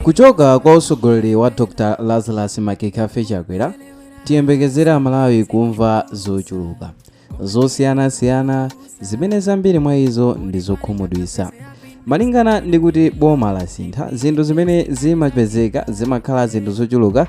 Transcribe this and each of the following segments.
Kuchoka kwa utsogoleri wa Dr Lazarus Makafe Chakwera tiyembekezere Amalawi kumva zochuluka zosiyanasiyana zimene zambiri mwa izo ndi zokhumudwisa malingana ndi kuti boma lasintha zinthu zimene zimapezeka zimakhala zinthu zochuluka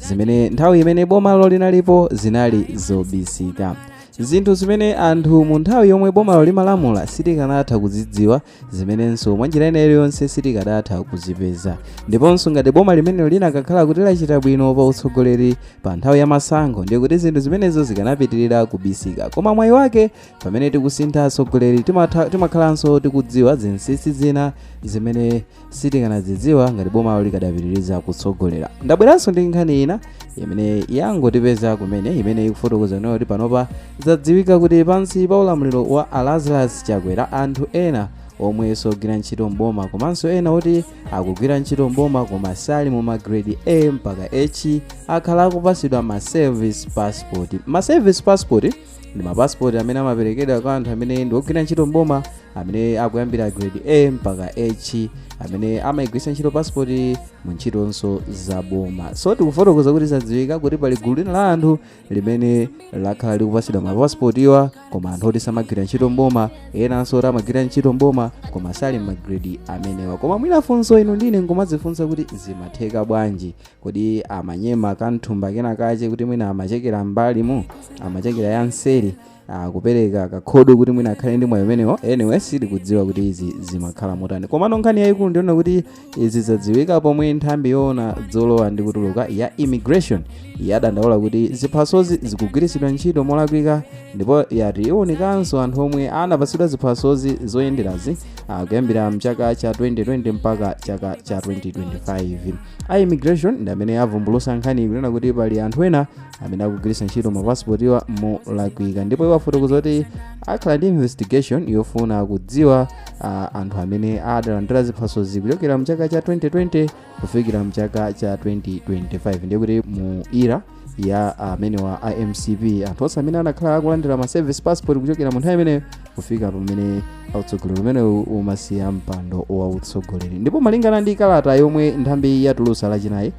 zimene nthawi imene bomalo linalipo zinali zobisika zinthu zimene anthu mu nthawi yomwe bomalo limalamula sitikanatha kuzidziwa zimenenso mwa njira ina iliyonse sitikadatha kuzipeza ndiponso ngati boma limene linakakhala kuti lachita bwino pa utsogoleri pa nthawi ya masankho ndiye kuti zinthu zimenezo zikanapitirira kubisika koma mwayi wake pamene tikusintha atsogoleri timakhalanso tikudziwa zinsinsi zina zimene sitikanadzidziwa ngati bomalo likadapitiriza kutsogolera ndabweranso ndi nkhani ina imene yangotipeza kumene imene ikufotokoza nayo kuti panopa zadziwika kuti pansi pa ulamuliro wa a Lazarus Chakwera anthu ena omwe sogwira ntchito mboma komanso ena oti akugwira ntchito mboma koma sali mu magredi a mpaka h akhala akupasidwa ma service passport ma service passport ndi mapasipoti amene amaperekedwa kwa anthu amene ndi ogwira ntchito mboma amene akuyambira grade a mpaka h amene amayigwiritsa ntchito pasipoti mu ntchitonso za boma so tikufotokoza kuti zadziwika kuti pali gulu lina la anthu limene lakhala likupatsidwa mapasipotiwa koma anthu oti samagwira ntchito mboma enanso oti amagwira ntchito mboma koma sali m'magredi amenewa koma mwina funso inu ndi ine nkumadzifunsa kuti zimatheka bwanji Kodi amanyema kanthumba kena kache kuti mwina amachekera m'mbalimu amachekera ya nseri ah, kupereka kakhodo kuti mwina akhale ndi mwayi umenewo anyway sitikudziwa kuti izi zimakhala motani komano nkhani yayikulu ndiona kuti izi zadziwika pomwe nthambi yoona zolowa ndi kutuluka ya immigration yadandaula kuti ziphasozi zikugwiritsidwa ntchito molakwika ndipo yati iwunikanso anthu omwe anapatsidwa ziphasozi zoyenderazi ah, kuyambira mchaka cha 2020 mpaka chaka cha 2025 a immigration ndi amene avumbulusa nkhani kunena kuti pali anthu ena amene akugwiritsa ntchito mapasipotiwa molakwika ndipo iwo afotokoza kuti akhala ndi investigation yofuna kudziwa ah, anthu amene adalandira ziphasozi kuchokera mchaka cha 2020 kufikira mchaka cha 2025 ndiye kuti mu era ya amenewa a mcp anthu onse amene anakhala akulandira ma service passport kuchokera mu nthawi imeneyo kufika pamene utsogoleri umenewu umasiya mpando wa utsogoleri ndipo malingana ndi kalata yomwe nthambi yatulusa lachinayi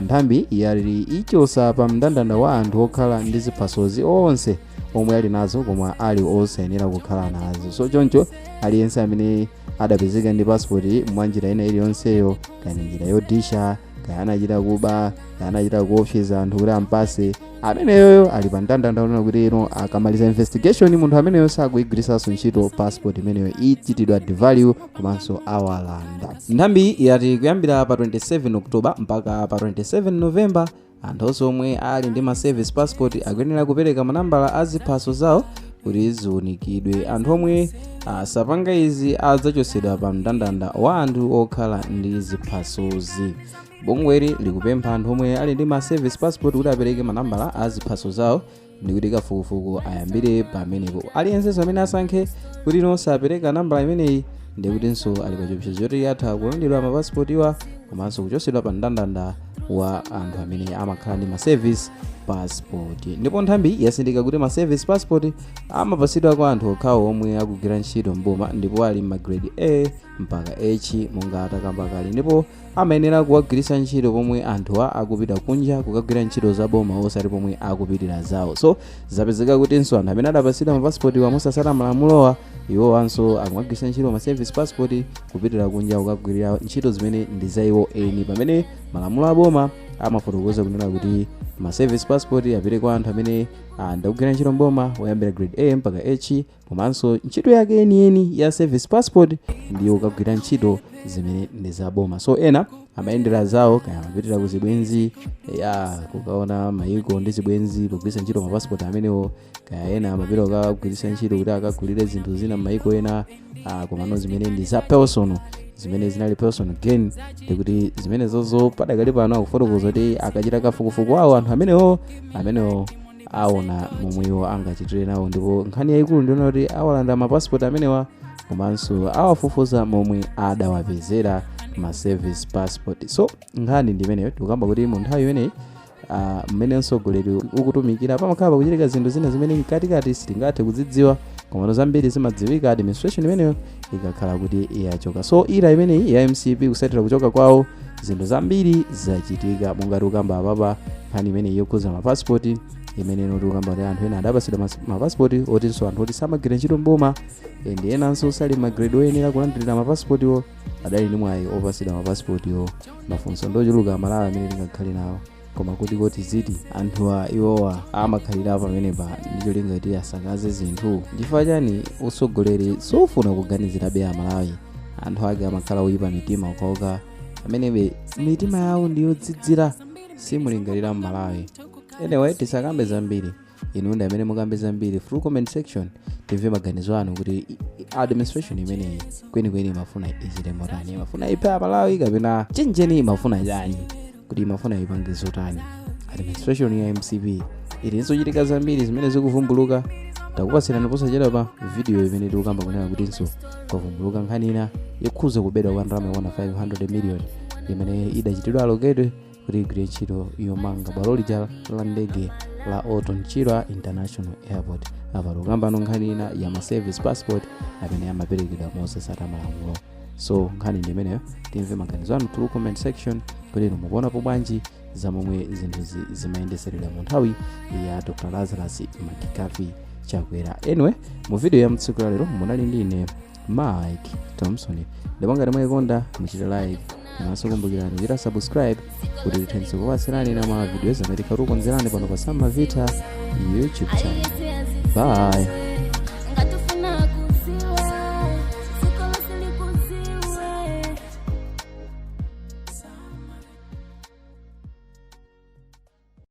nthambiyi yati ichosa pa mndandanda wa anthu okhala ndi ziphasozi onse omwe ali nazo koma ali osayenera kukhala nazo so choncho aliyense amene adapezeka ndi pasipoti mwa njira ina iliyonseyo kaya njira yodisha kaya anachita kuba anachita kuopseza anthu kuti ampase ameneyoyo ali pa mndandanda onena kuti iwo akamaliza investigation munthu ameneyo sakuigwiritsanso ntchito passport imeneyo ichitidwa devalue komanso awalanda nthambiyi yati kuyambira pa 27 oktoba mpaka pa 27 novemba anthu onse omwe ali ndi ma service passport akuyenera kupereka manambala a ziphaso zawo kuti ziunikidwe anthu omwe asapanga izi adzachotsedwa pa mndandanda wa anthu okhala ndi ziphasozi bungweli likupempha anthu omwe ali ndi ma service passport kuti apereke manambala a ziphaso zawo ndikuti kafukufuku ayambire pamenepo aliyensenso amene asankhe kuti iwo sapereka nambala imeneyi ndikutinso ali pa chiopsezo choti atha kulandidwa mapasipotiwa komanso kuchotsedwa pa mndandanda wa anthu amene amakhala ndi ma service passport ndipo nthambiyi yatsindika kuti ma service passport amapatsidwa kwa anthu okhawo omwe akugwira ntchito mboma ndipo ali m'magrade a mpaka h monga atakamba kale ndipo amayenera kuwagwiritsa ntchito pomwe anthuwa akupita kunja kukagwira ntchito za boma osati pomwe akupitira zawo so zapezeka kutinso anthu amene adapatsidwa mapasipotiwa mosatsata malamulowa iwowanso akumagwiritsa ntchito ma service passport kupitira kunja kukagwirira ntchito zimene ndi za iwo eni pamene malamulo a boma amafotokoza kunena kuti ma service passport apite kwa anthu amene ah, ndakugwira ntchito mboma oyambira grade a mpaka h komanso ntchito yake yeniyeni ya service passport ndiyo kukagwira ntchito zimene ndi za boma so ena amayendera zawo kaya amapitira ku zibwenzi ya kukaona mayiko ndi zibwenzi pogwiritsa ntchito mapasipoti amenewo kaya ena amapita kukagwiritsa ntchito kuti akagulire zinthu zina m'mayiko ena ah, komano zimene ndi za personal zimene zinali personal gain ndikuti zimenezozo padakali pano akufotokoza kuti akachita kafukufuku wawo anthu amenewo amenewo aona momwe iwo angachitire nawo ndipo nkhani yayikulu ndi yonena kuti awalanda mapasipoti amenewa komanso awafufuza momwe adawapezera ma service passport so nkhani ndi imeneyo tikukamba kuti mu nthawi imeneyi ah, mmene mtsogoleri ukutumikira pamakhala pakuchitika zinthu zina zimene mkatikati sitingathe kuzidziwa komano zambiri zimadziwika administration imeneyo ikakhala kuti yachoka so era imeneyi ya mcp kutsatira kuchoka kwawo zinthu zambiri zachitika monga tikukamba apapa nkhani imeneyi yokhudza mapasipoti imene ife tikukamba kuti anthu ena adapatsidwa mas- mapasipoti otinso anthu oti samagwira ntchito mboma ndi enanso sali m'magredi oyenera kulandirira mapasipotiwo adali ndi mwayi opatsidwa mapasipotiwo mafunso ndochuluka amalawi amene tingakhale nawo koma kuti kodi ziti anthuwa iwowa amakhalira pamenepa ndi cholinga kuti asakaze zinthu chifukwa chani utsogoleri sufuna kuganizirabe amalawi anthu ake amakhala oyipa mitima okhaokha amenebe mitima yawo ndiyodzidzira siyimulingalira mmalawi anyway tisakambe zambiri inu ndi amene mukambe zambiri through comment section timve maganizo anu kuti i- i- administration imeneyi kwenikweni imafuna ichite motani imafuna iphe aMalawi kapena chenjeni imafuna chani kuti imafuna ipange zotani administration ya mcp ili ndi zochitika zambiri zimene zikuvumbuluka takupatsirani posachedwa pa video imene tikukamba kunena kutinso kwavumbuluka nkhani ina yokhuza kubedwa kwa ndalama yokwana 500 million imene idachitidwa allocated kuti igwire ntchito yomanga bwalo lija la ndege la orton chirwa international airport apa tikukambano nkhani ina ya ma service passport amene amaperekedwa mosasata malamulo so nkhani ndi imeneyo timve maganizo anu through comment section kuti inu mukuonapo bwanji za momwe zinthu zimayendetseredwa mu nthawi ya dr lazarus mccarthy chakwera anyway mu video ya tsiku la lero munali ndi ine mike thompson ndipo ngati mwayikonda muchite like komanso kumbukirani kuchita subscribe kuti tithenso kukupatsirani ena mwa ma videos amene tikhala tikukonzerani pano pa sam mavita youtube channel bye